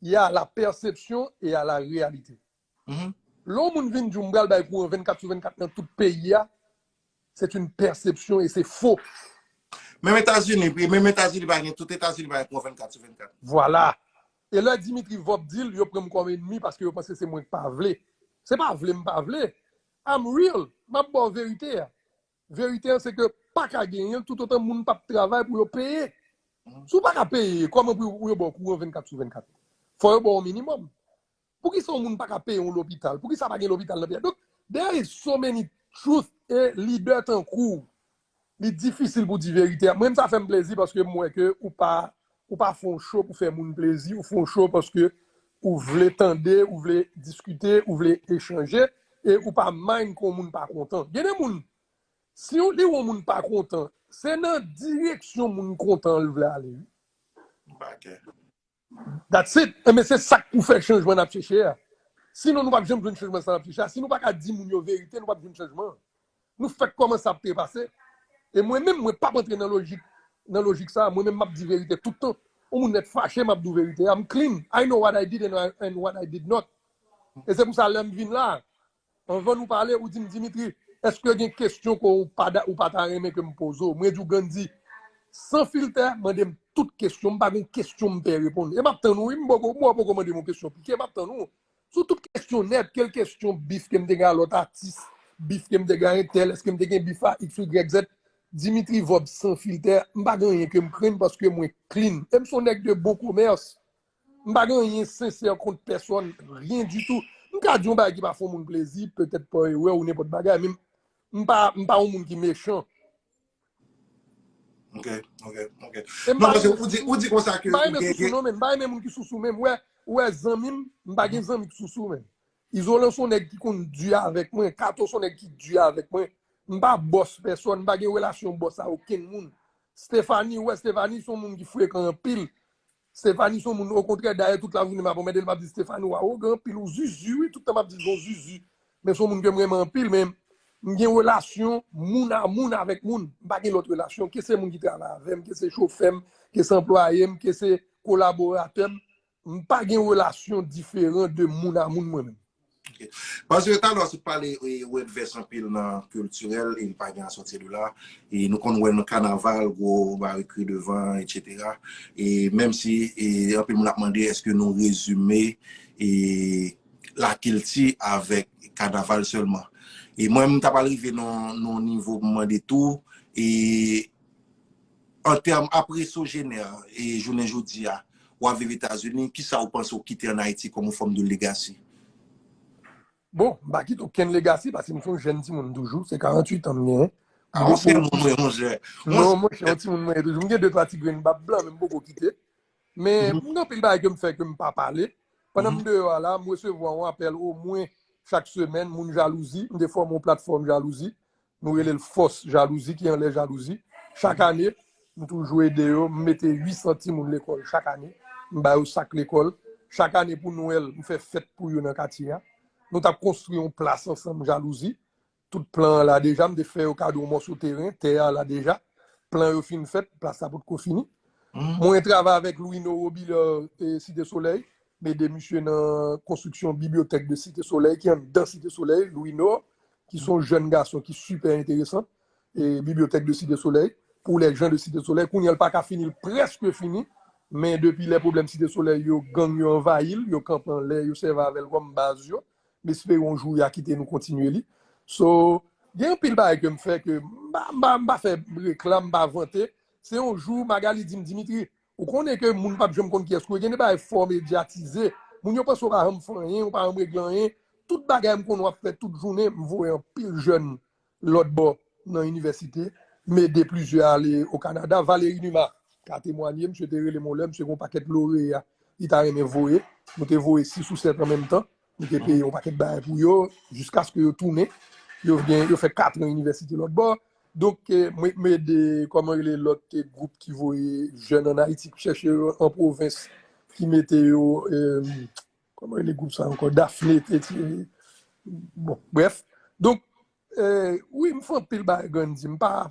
y a la pèsepsyon e a la reyalite. Lè yon moun vin di w m pral bay kouran 24 sou 24 nan tout peyi a, se t yn pèsepsyon e se fo. Menm Etazini, e menm Etazini pa gen, tout Etazini pa gen kouran 24 sou 24. Vwala. E lè Dimitri Vorb di l, yo pran m kòm enmi paske yo panse se mwen k pa vle. Se pa vle m pa vle. I'm real. M ap ba w verite a. Verite an se ke pa ka genyen toutotan moun pap travay pou yo peye. Si w pa ka peye, kòman pou yo ba w kouran 24 sou 24? Fò yo ba w yon minimòm. Poukisa yon moun pa ka peye yon lopital? Poukisa pa gen lopital nan peyi a? Donk, there is so many truth e lidè tankou w, li difisil pou w di verite a. Mwen menm sa fè m plezi paske m wè ke ou pa Ou pa fè yon show pou fè moun plezi, ou fè yon show paske ou vle tande, ou vle diskite, ou vle echanje, e ou pa mind ke yon moun pa kontan. Gen de moun, si li wè yon moun pa kontan, se nan direksyon moun kontan an li vle ale wi. That's it! Enben se sa k pou fè chanjman n ap chèche a. Sinon nou p ap janm jwenn chanjman sa n ap chèche a. Si nou pa ka di moun yo verite, nou p ap jwenn chanjman an. Nou fèk kòmanse ap trepase, e mwen menm mwen pap antre nan lojik nan lojik sa, mwen menm map di verite tout tan, yon moun lèt fache map di w verite, I'm clean, I know what I did and what I did not, e se pou sa lèm vin la, anvan nou pale ou di m Dimitri èske gen kesyon ke w pa ou pa ta renmen ke m poze w, mwen di w Gandhi san filtè mande m tout kesyon, m pa gen kesyon m pè reponn, e map tann ou wi, m poko mwen poko mande m yon kesyon pike, map tann ou. Sou tout kesyon nèt, kel kesyon bif ke m te gen a lòt atis, bif ke m te gen a entèl, eske m te gen bif a iks ou ygrèk zèt, Dimitri Vorbe san filtè, m pa gen anyen ke m krenn paske mwen klin. E m se yon nèg de bon komès. M pa gen anyen sensè kont pèsonn, ryen ditou. M ka di yon bagay ki pa fè yon moun plezi, petèt pa erè ou nenpòt bagay, men m pa yon moun ki mechan. Ok, ok, ok. E m Non, pa paske renmen ou di, ou sousou. di konsa M ke pa ou renmen gen, sousou gen... non men. M pa renmen moun ki sousou men. Ou wè, ou wè zanmi m, m pa Mhm. gen zanmi ki sousou men. Izolan son nèg ki konn di avèk mwen. Kato son nèg ki di avèk mwen. M pa bòs pèsòn, m pa gen relasyon bòs a okenn moun. Stéphanie, ou wè Stéphanie son moun ki frekan anpil. Stephanie son moun okontrè dayè tout lajounen map anmèdel map di Stephanie ou awogan anpil ou zuzu wi tout tan map dil son zuzu men son moun kem renmen anpil men mgen relasyon moun a moun avèk moun mpa gen lòt relasyon ke se moun ki travay avèm ke se chofèm ke se anplwayem ke se kolaboratèm mpa gen relasyon diferan de moun a moun mwen menm. Ok. Paske talè se pale word vès anpil nan culturel e li pa gen asoti de la. E nou konn wè nan kanaval gwo barikri devan etc. E menm si anpil moun ap mande eske nou rezime e lakilti avèk kanaval sèlman. E mwen m ta pral rive nan yon nivo pou m mande tou e An tèm apre Sogener e jounen jodi a, ou ap viv Etazini, ki sa ou panse ou kite an Ayiti kòm yon fòm de legasi? Bon, m pa kite okenn legasi paske m se yon jèn timoun toujou, se 48 an m genyen. A ou se yon moun wi mon chè. Non mon chè, yon timoun mwen ye toujou. M gen 2, 3 ti grenn bab blan men m poko kite. Men m gen anpil bagay ke m fè ke m pa pale. Pandan m deyò a la, m resevwa yon apèl omwen chak semèn moun jalouzi. M te fòme yon platfòm jalouzi. Nou rele l fòs jalouzi ki anlè jalouzi. Chak ane, m toujou ede yo. M mete 800 timoun lekòl chak ane. M ba yo sak lekòl. Chak ane pou Nwèl, m fè fèt pou yo nan katye a. Nou t ap konstwi yon plas ansanm jalouzi. Tout plan an la deja. M te fè yo kado yon mòso teren. Tè a la deja. Plan yo fin fèt. Plas la potko fini. Mwen travay avèk Louino Robiliard Site Solèy. M ede misye nan konstriksyon bibliyotèk de Site Solèy ki anndan Site Solèy. Louino, ki son jèn gason ki sipè enteresan, Bibliothèque de Cité Soleil, pou les gens de Cité Soleil, kounye an l pa ka fini, l prèske fini, men depi lè pwoblèm Cité Soleil yo, gang yo anvayi l, yo kanpe anlè, yo sèvi avè l kòm baz yo, m espere yon jou ya kite nou kontinye li. So, gen anpil bagay ke m fè ke m pa fè reklam, m pa vante, se yon jou Magalie di m, Dimitri, Ou konnen ke moun pap janm konn kiyès ke w ye. Gen de bagay fò w medyatize. Moun yo panse w pa janm fè anyen, w pa janm regle anyen. Tout bagay m konnen w ap fè tout jounen, m voye anpil jèn lòtbò nan inivèsite, m ede plizyè ale o Kanada. Valéry Numa ka temwanye, misye te rele m yon lè, misye gen yon pakèt loreya li ta renmen voye. Nou te voye sis ou sèt an menm tan. Nou te peye yon pakèt bagay pou yo, jiskaske yo tounen. Yo gen, yo fè katran inivèsite lòt bò. Donk, mwen te mande, kòman rele lòt gwoup ki voye jèn an Ayiti, ki chèche yo an pwovens, ki mete yo, kòman rele gwoup sa ankò, Dafne te di, bon, brèf. Donk, wi, m fè anpil bagay Gandhi, m pa,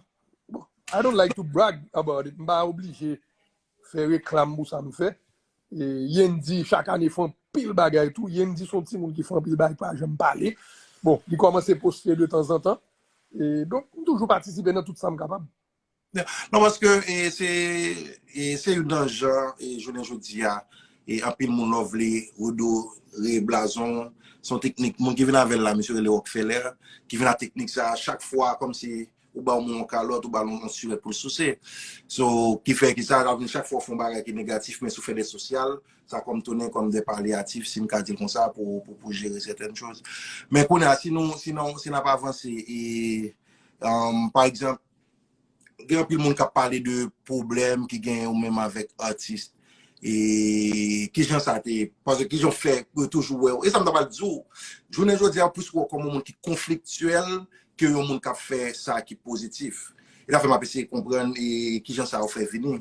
bon, I don't like to brag about it, m pa oblije. Fè reklam pou sa m fè. Yendi chak ane fè anpil bagay tou. Yendi se yon timoun ki fè anpil bagay, ki pa janm pale. Bon, li kòmanse poste de tanzantan. Donk, m toujou patisipe nan tout sa m kapab. Non, paske se youn nan jan jounen jodi a, anpil moun love li, redore blazon l. Se yon teknik, moun ki vin avè l la, misye rele Rockfeller, ki vin ak teknik sa a chak fwa kòmsi ou ba moun yon kalòt, ou ba moun yon surèt pou l souse. So, ki fè ki sa, sa vin chak fwa ou fè yon bagay ki negatif, men si ou fè de sosyal, sa kòm tounen kòm de palyatif, si m ka di l konsa, pou ou jere sèten choz. Men kounye a, si nou, si nou, si nou ap avanse, e, emm, pa egzanp, gen anpil moun k ap pale de pwoblèm ki gen yo menm avèk atis. E kijan sa te, pase kijan w fè pou yo toujou wè w. E sa m ta pral di w, jounen jodi a, plis wè w kòm yon moun ki konfliktyèl ke yon moun k ap fè sa ki pozitif. E sa fè m ap eseye konprann e kijan sa yo fè vini.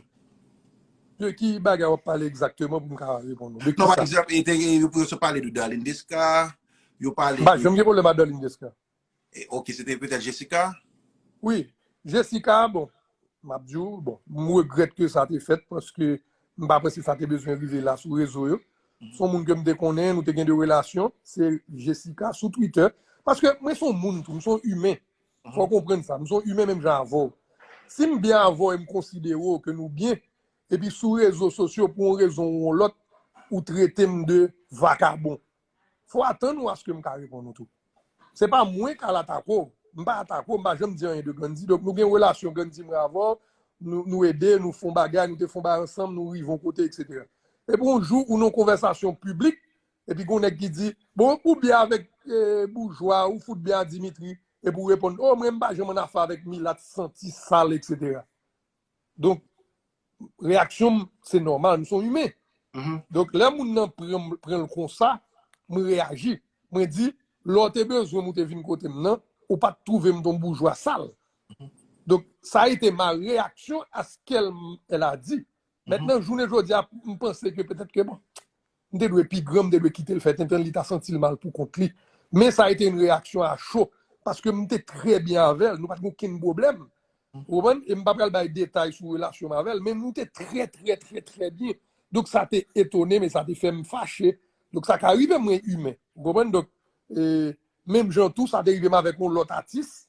De ki bagay w ap pale egzakteman pou m ka reponn ou? De ki sa? Non, pa egzanp, yo pale de Darline Desca, yo pale de. M pa janm gen pwoblèm ak Darline Desca. Ok se te petèt Jessica? Wi, Jessica bon, m ap di w, bon, m regrèt ke sa te fèt paske m pa panse sa te bezwen rive la sou rezo yo. Son moun ke m te konnen, nou te gen de relasyon, se Jessica sou Twitter. Paske mwen son moun tou, m son imen. Fò w konprann sa, m son imen menm jan avè w. Si m byen avè w e m konsidere w ke nou byen, epi sou rezo sosyo pou yon rezon ou yon lòt, ou trete m de vakabon. Fò atann ou aske m ka reponn ou tou. Se pa mwen k al atake w. M pa atake w, m pa janm di anyen de Gandhi. Donk nou gen relasyon Gandhi mwen avè w, nou ede, nou fon bagay, nou te fon bagay ansanm, nou rive yon kote, eksetera. Epi yon jou ou nan yon konvèsasyon piblik, epi gen yon nèg ki di, bon, ou byen avèk boujwa, ou fout byen a Dimitri, epi ou reponn, oh mwen m pa janm annafè avèk milat santi sal, eksetera. Donk, reyaksyon m, se nòmal, m son imen. Donk, lè moun nan pran l konsa, m reyaji. Mwen di, lè w te bezwen m ou te vin kote m nan, ou pa t twouve m ton boujwa sal. Donk, sa a ete ma reyaksyon a skel m, el a di. Mètnan, jounen jodi a, m panse ke petèt ke bon, M te dwe pi gran, m te dwe kite l fè tenten l, li ta santi l mal pou kont li. Men sa ete yon reyaksyon a cho, paske m te trè byen avè l, nou pa t gen okenn pwoblèm. Ou konprann? E m pa pral bay detay sou relasyon m avè l, men nou te trè trè trè trè byen. Donk sa te etone m e sa te fè m fache. Donk sa ka rive, mwen imen. Ou konprann? Donk, menm jan tou, sa te rive m avèk yon lòt atis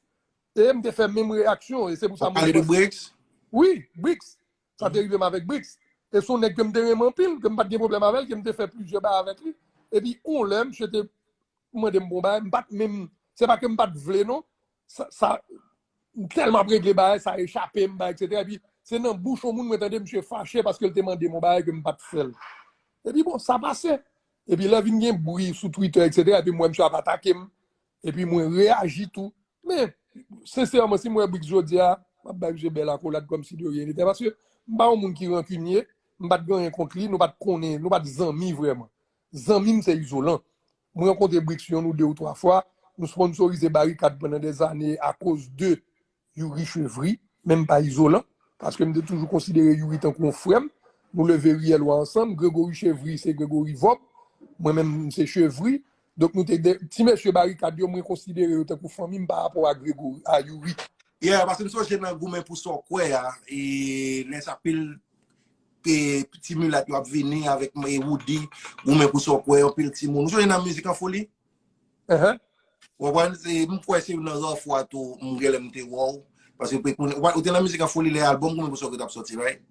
e m te fè menm reyaksyon. E se pou sa mwen panse. Ou pale de Bricks? Wi, Bricks. Sa te rive m avèk Bricks. E se yon nèg ke m te renmen anpil, ke m pa t gen pwoblèm avè l, ke m te fè plizyè bagay avèk li. Epi yon lè, misye te mande m pou yon bagay, m pa t menm, se pa ke m pa t vle non, sa, m tèlman ap regle bagay, sa echape m, bagay eksetera. Epi se nan bouch yon moun mwen tande misye fache paske l te mande m yon bagay ke m pa t fè l. Epi bon, sa pase. Epi lè vin gen bri sou Twitter eksetera, epi m wè misye ap atake m, Epi mwen reyaji tou. Men, sensèman, si mwen Brix jodi a, m ap bay misye bèl akolad kòm si de ryen li te. Paske, m pa yon moun ki rankinye, m pa t gen anyen kont li, nou pa t konnen, nou pa t zanmi vrèman. Zanmi m se Izolan. Mwen rankontre Brix yon ou de ou twa fwa, nou sponsorize Barikad pandan dèzane akoz de Youri Chevry, men m pa izolan, paske m te toujou konsidere Youri tankou yon frè m. Nou leve riyè lwa ansanm. Gregory Chevry se Gregory Vob, mwen menm m se Chevry. Donk nou te de, ti mesye Barikad yo, mwen konsidere yo tankou fanmi m parapò a Gregory, a Youri. Yeah, paske m sonje nan goumen pou sa w kwè a, e lè sa pil ti milat yo ap vini avèk Roody, goumen pou sa w kwè, anpil timoun. Ou sonje nan Mizik an Foli? Wapwen, m kwe se yon nan ra fwa tou m gen lem te wou. Paske m pe konen, wapwen, ou te nan mizik an foli le album koumen pou sa ou te tap soti, right?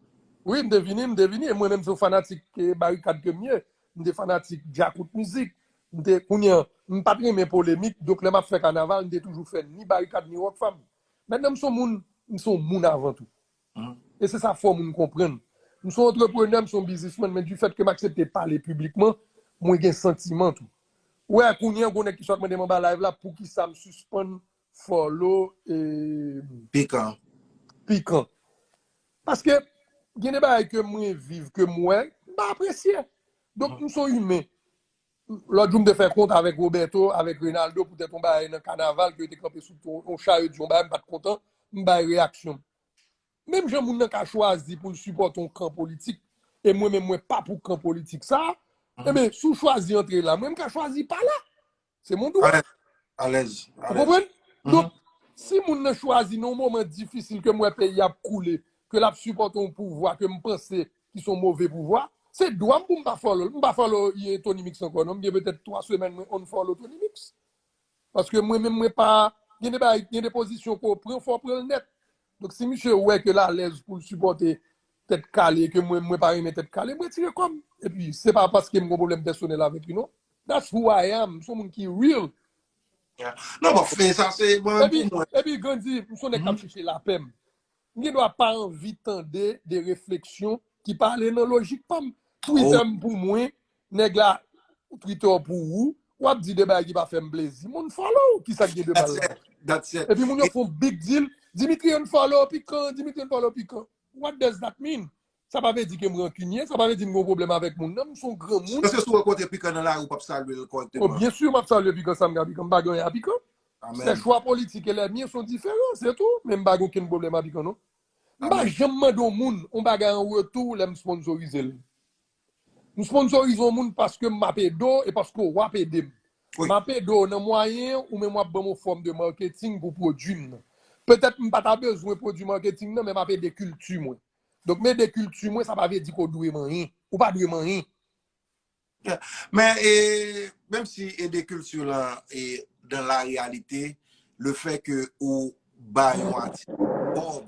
Wi, m te vini, m te vini. E mwen menm se yon fanatik Barikad ke m ye. M te fanatik Djakout mizik. M te, kounye an, m pat renmen polemik. Donk le m ap fe kanaval, m te toujou fe ni Barikad ni Rockfam. Mentnan m son moun, m son moun avan tou. E se sa fò moun konprann. M son antreprenè, m son bizisman, men di fèt ke m aksepte pale piblikman, mwen gen santiman tou. Ou wè, kounye an gon nèg ki sot mande m anba live la poukisa m sispann follow e. Pikan. Pikan. Paske gen de bagay ke mwen viv, ke m wè, m pa apresye. Donk m son imen. Lòt jou m te fè kont avèk Roberto, avèk Reynaldo poutèt yon bagay nan kanaval ke yo te kanpe sou yon cha yo di yon bagay m pat kontan, m bay reyaksyon m. Menm jan moun nan ka chwazi pou l sipòte yon kan politik e mwen menm mwen pa pou kan politik sa, enben si w chwazi antre la mwen m ka chwazi pa la. Se mon dwa. Alèz, alèz, alèz. Ou konprann? Donk, si moun nan chwazi nan yon moman difisil ke m wè peyi a ap koule, ke l ap sipòte yon pouvwa ke m panse ki son move pouvwa, se dwa m pou m pa follow l. M pa follow Tony Mix ankò non, m gen petèt 3 semèn mwen unfollow Tony Mix. Paske mwen menm mwen pa, gen de bagay, gen de pozisyon ke w pran fò w pran l nèt. Donk si misye wè ke l alèz pou l sipòte Tèt Kale e ke mwen mwen pa renmen Tèt Kale, m retire kò m. Epi se pa paske m gen yon pwoblèm pèsonèl avèk li non. That's who I am, m son moun ki real. Non bon, fin sa se bon pou mwen. Epi Gandhi, m son nèg k ap chèche lapè m. M gen dwa pa anvi tande de refleksyon ki pa ale nan lojik pa m. Twitter m pou mwen, nèg la Twitter pou ou. W ap di de bagay ki pa fè m plezi, m unfollow ou. Ki sa k gen de mal ladan? Epi moun yo fè yon big deal, Dimitri unfollow Pikan, Dimitri unfollow Pikan. What does that mean? Sa pa vle di ke m rankinye, sa pa vle di m gen yon pwoblèm avèk moun nan, m se yon granmoun. Èske si w rankontre pikan nan lari w p ap salye l kòrèkteman? O, byen si, m ap salye pikan sa m gen a pikan, m pa gen anyen a pikan. Amèn. Se chwa politik e lè mien sont diferan, se tou, men m pa gen okenn pwoblèm a pikan non. M pa janm mande yon moun yon bagay an retou lè m sponsorize l. M sponsorize yon moun paske m ap ede w e paske w ap ede m. M ap ede w nan mwayen ou menm w ap ban m yon fòm de marketing pou pwodui m nan. Petèt m pa ta bezwen pwodui marketing nan men m ap ede kilti mwen. Donk mede kilti mwen sa pa vle di ke w dwe manyen. Ou pa dwe manyen. Men, menm si ede kilti la dan la reyalite, le fè ke ou ba yon atis kòb,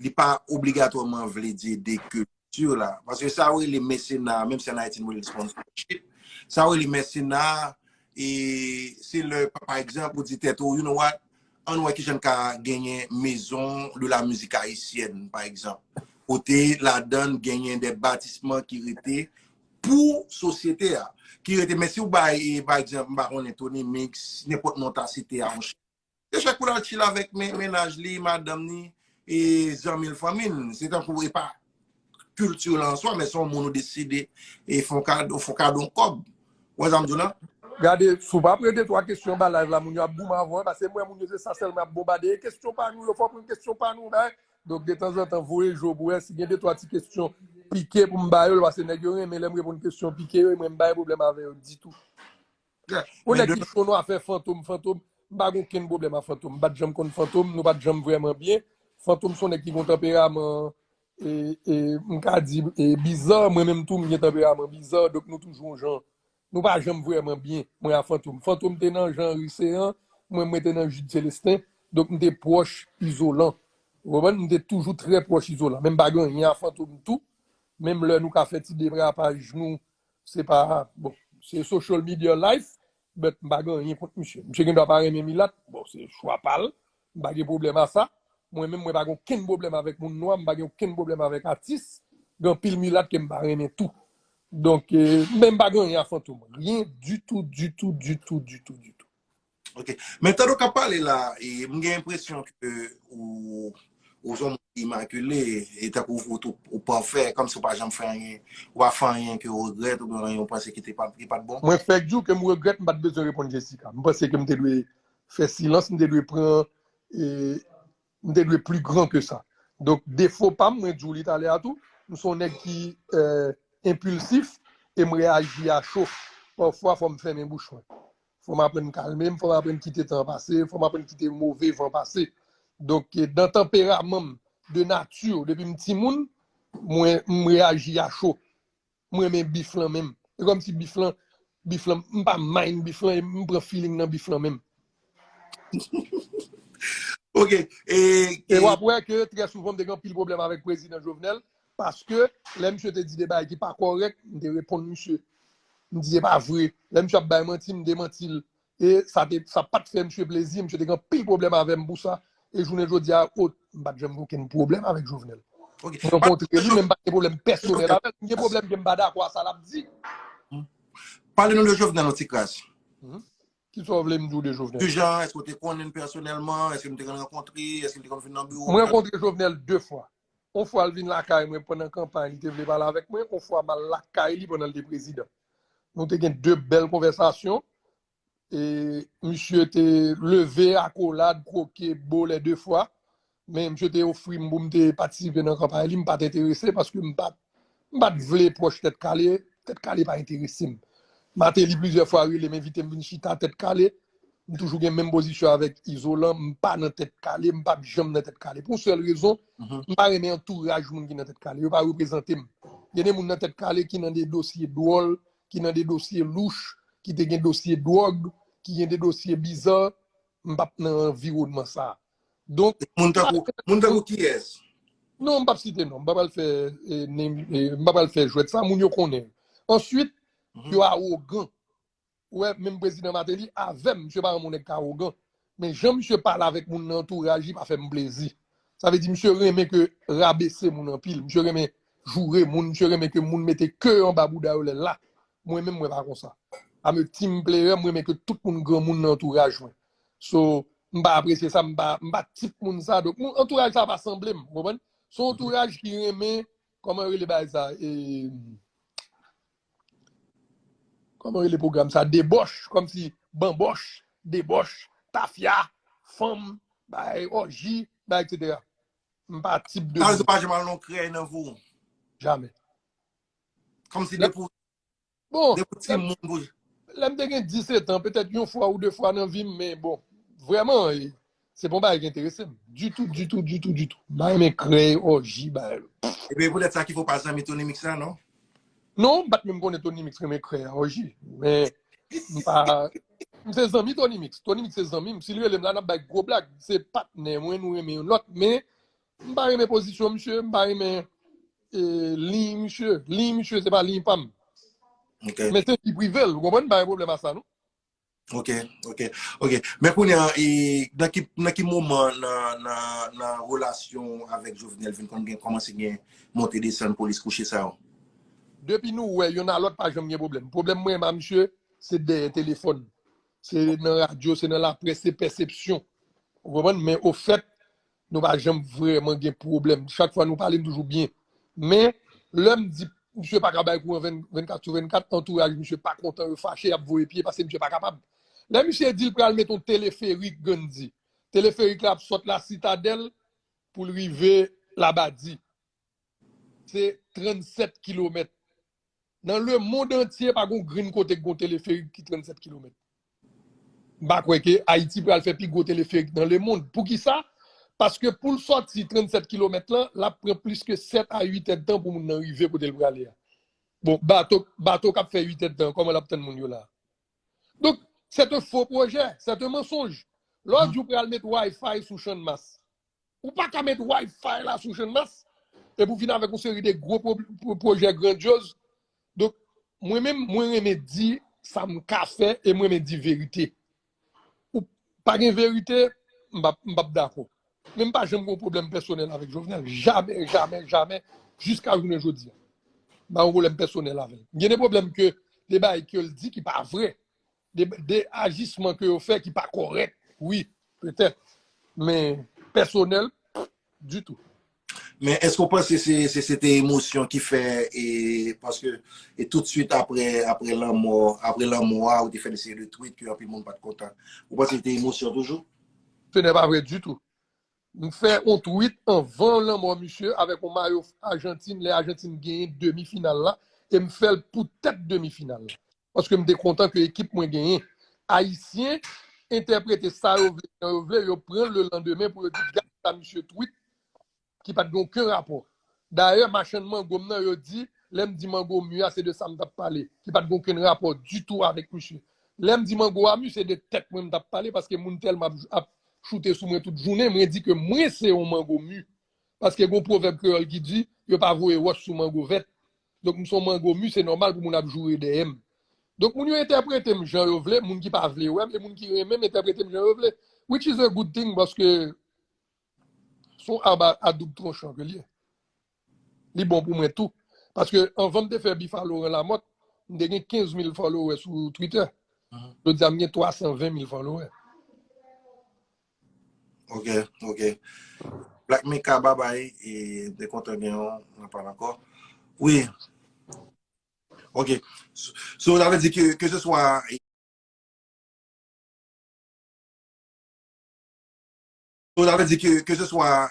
li pa obligatwaman vle di ede kilti la. Paske sa yo rele mesena, menm si an Ayiti nou rele sponsorship, sa yo rele mesena, se le, pa ekzanp, ou di tèt ou, you know what, Ann wè kijan n ka genyen mezon de la mizik ayisyèn pa egzanp, kote ladan n genyen de batisman ki rete pou sosyete a, ki rete men si w bay pa egzanp m pa konnen Tony Mix, nenpòt non w ta site a. Se chak pou l al chile avèk mennaj li, madanm ni, e zanmi l, fanmi l. Se tankou e pa kilti w lan answa, men se yon moun ou deside e fon kado, fon kado yon kòb. Ou wè sa m di w la? Gade, si w pa pran de twa kesyon anba live la, moun yo ap goumen avè w, pase m wè moun yo se sa sèlman y ap bonbade, e kesyon pa nou yo, fò w pran kesyon pa nou, bay. Donk, detanzantan, voye je w pou wè si gen de twa ti kesyon pike pou m ba yo l, pase nèg yo renmen lè m reponn kesyon pike yo, e mwen m pa gen pwoblèm avè yo ditou. Yon nèg ki cho nou afè Fantom Fantom m pa gen okenn pwoblèm a Fantom m pa t janm konn Fantom nou pa t janm vrèman byen Fantom se yon nèg ki gen yon tanperaman e m ka di bizà mwen menm tou m gen tanperaman bizà donk nou toujou yon jan nou pa janm vrèman byen mwen a Fantom Fantom te nan Jean Ricean mwen mwen te nan Jude Celestin donk m te pwòch Izolan ou konprann m te toujou trè pwòch Izolan men m pa gen anyen a Fantom tou menm lè nou ka fè ti derapaj nou Se pa, bon, se social media life, but m pa gen anyen kont misye. Misye gen dwa pa renmen milat, bon, se chwa pa l, m pa gen pwoblèm a sa. Mwen menm, mwen pa gen okenn pwoblèm avèk moun nwa, m pa gen okenn pwoblèm avèk atis. Gen anpil milat ke m pa renmen tou. Donk, men m pa gen anyen a Fantom. Ryen ditou, ditou, ditou, ditou, ditou. Ok, men tan nou ka pale la, m gen enpresyon ke ou son moun imakile, e tank ou pafè, kom si ou pa janm fè anyen, ou pa fè anyen ke ou regrèt, ou gen anyen ou panse ki te pa, ki pat bon? Mwen fèk di w ke m regrèt m pat bezwen reponn Jessica. M panse ke m te dwe fè silans, m te dwe pran M te dwe pli gran ke sa. Donk defo pa m, mwen di w li talè a tou, m se yon nèg ki enpilsif e m reyaji a cho. Pafwa fò m fèmen bouch mwen. Fò m aprann kalme m, fò m aprann kite tan an pase, fò m aprann kite move van pase. Donk dan tanperaman m, de nati, depi m timoun, mwen m reyaji a cho. M renmen beef lan menm. E kom si beef lan, beef lan, m pa mind beef lan, m pran feeling nan beef lan menm. Ok, e. E wap wè ke trè souvan m te gen anpil pwoblèm avèk Prezidan Jovenel, paske lè misye te di de bagay ki pa korèk, m te reponn misye. M di se pa vre. Lè misye ap bay manti, m demanti l. E sa te, sa pa t fè msye plezi, msye te gen anpil pwoblèm avè m pou sa, e jounen jodi a, o, m pa t janm gen okenn pwoblèm avèk Jovenel. Ok. M rankontre li, men m pa t gen pwoblèm pèsonèl avè l. M gen pwoblèm ke m pa dakò a sa l ap di. Pale nou de Jovenel yon ti kras. Ki sa w vle m di w de Jovenel? Ki jan, èske w te konnen l pèsonèlman? Èske nou te konn rankontre? Èske li te konn vin nan biwo w? M rankontre Jovenel 2 fwa. On fwa l vin lakay mwen pandan kanpay li te vle pale avèk mwen, on fwa m al lakay li pandan l te prezidan. Nou te gen 2 bèl konvèsasyon e misye te leve akolad, kwoke, bo lè 2 fwa men misye te ofri m pou m te patisipe nan kanpay li, m pa t enterese paske m pa t M pa t vle pwòch Tèt Kale, Tèt Kale pa enterese m. Mateli plizyè fwa rele m envite m vin chita Tèt Kale. M toujou gen menm pozisyon avèk Izolan, m pa nan Tèt Kale, m pap janm nan Tèt Kale. Pou yon sèl rezon, m pa renmen antouraj moun ki nan Tèt Kale. Yo pa reprezante m. Gen de moun nan Tèt Kale ki nan de dosye dwòl, ki nan de dosye louch, ki te gen dosye dwòg, ki gen de dosye bizar. M pap nan anviwònman sa a. Donk, Moun tankou, moun tankou kiyès? Non, m pap site non. M pa pral fè eh, name, eh, m pa pral fè jwèt sa, moun yo konnen. Answit, Mhm. yo awogan. Wè, menm prezidan Mateli avèm, msye pa moun nèg ka awogan. Men jan msye pale avèk moun nan antouraj li pa fè m plezi. Sa vle di msye renmen ke rabese moun anpil, msye renmen joure moun, msye renmen ke moun mete ke anba bouda yo lè la. Mwen menm mwen pa konsa. Ame team player, m renmen ke tout moun granmoun nan antouraj mwen. So, m pa apresye sa, m pa tip moun sa. Donk, antouraj sa pa sanble m, ou konprann? Se yon antouraj ki renmen, kòman yo rele bagay sa? E, kòman yo rele pwogram sa? Debòch, kòm si, banbòch, debòch, tafya, fanm, bay, òji, bay, et cetera. M pa tip de moun. Sa vle di ou pa janm al nan krèy nan vou? Jamè. Kòm si depi ou Bon, Depi w ti moun pou. Lè m te gen 10 etan, petèt yon fwa ou 2 fwa nan vi m, men bon, vrèman, se pa yon bagay ki enterese m. Ditou, ditou, ditou, ditou. M pa renmen krèy, òji, bagay. Epi e poutèt sa ki fè w pa zanmi Tony Mix la, non? Non, m pa t menm konnen Tony Mix renmen krèy ak òji. Men, m pa. M se zanmi Tony Mix. Tony Mix se zanmi m. Si l rele m la, n ap bay gwo blag. Se patnè mwen, nou renmen youn lòt. Men, M pa renmen pozisyon misye, m pa renmen liy misye. Liy misye se pa liy pa m. Men se ki prive l, ou konpwen m pa gen pwoblèm a sa non. Ok, ok, ok. Men kounye an, nan ki moman nan relasyon avèk Jovenel vin kon gen komanse gen monte desan polis kouche sa yo? Depi nou wè, yon nan lòt pa janm gen pwoblèm. Pwoblèm mwen ma misye, se dèyè telefòn. Se nan radyo, se nan laprès, se pèsepsyon. Ou konpwen m, men ofèt, Nou pa janm vrèman gen pwoblèm. Chak fwa nou pale, m toujou byen. Men, lè m di misye pa ka bay kouran 24 sou 24, antouraj misye pa kontan, yo fache, y ap voye pye pase misye pa kapab. Lè misye di l pral met yon teleferik Gandhi, teleferik la ap sot Lasitadèl pou l rive Labadi. Se 37 kilomèt. Nan le mond antye pa gon grenn kote ki gon teleferik ki 37 kilomèt. M pa kwè ke Ayiti pral fè pi gwo teleferik nan le mond. Pou ki sa? Paske pou l sòti 37 kilomèt lan, l ap pran plis ke 7 a 8 èdtan pou moun nan rive kote l prale a. Bon, bato, bato k ap fè 8 èdtan, kòman l ap tann moun yo la a? Donk, sèt an fo pwojè, sèt an mansonj. Lè w di w pral met Wi-Fi sou Channmas. Ou pa ka met Wi-Fi la sou Channmas epi ou vin avèk yon seri de gwo pwojè grandyoz. Donk, mwen menm, mwen renmen di sa m ka fè e mwen renmen di verite. Ou pa gen verite, m pa m pa p dakò. Men m pa janm gen yon pwoblèm pèsonèl avèk Jovenel. Jamè, jamè, jamè, jiska jounen jodi a. M pa gen yon pwoblèm pèsonèl avè l. M gen de pwoblèm ke de bagay ke l di ki pa vre. de ajisman ke yo fè ki pa korèk wi petèt men pèsonèl di tou. Men èske ou panse se te emosyon ki fè e paske e tout suit apre apre lanmò apre lanmò a ou te fè de seri de tweet ke anpil moun pat kontan ou panse se te emosyon toujou? Se nè pa vre di tou. M fè on tweet anvan lanmò misye avèk on mayo Ajantin lè Ajantin genyen demi final la e m fèl pou tèt demi final la. Paske m te kontan ke ekip mwen genyen. Ayisyen entèprete sa yo vle jan yo vle, yo pran l le landemen pou yo di gad sa misye tweet ki pa t gen oken rapò. Dayè machann mango m nan yo di lè m di mango mu a se de sa m t ap pale ki pa t gen oken rapò ditou avèk misye. Lè m di mango a mu se de tèt mwen m t ap pale paske moun tèlman ap choute sou mwen tout jounen mwen di ke mwen se yon mango mu paske gen yon pwovèb kreyòl ki di yo pa voye wòch sou mango vèt Donk m son mango mu se nòmal pou moun ap joure dèyè m. Donk moun yo entèprete m jan yo vle, moun ki pa vle wè m e moun ki renmen m entèprete m jan yo vle. Which is a good thing paske s on arbre à double tronchon ke l ye. Li bon pou mwen tou. Paske anvan m te fè Bifa Laurent Lamothe, m te gen 15 mil followers sou Twitter. Jodi a m gen 320 mil followers. Ok ok Black Mika babay e te kontan gen yon anpal ankò wi ok so sa vle di ke ke se swa so sa vle di ke ke se swa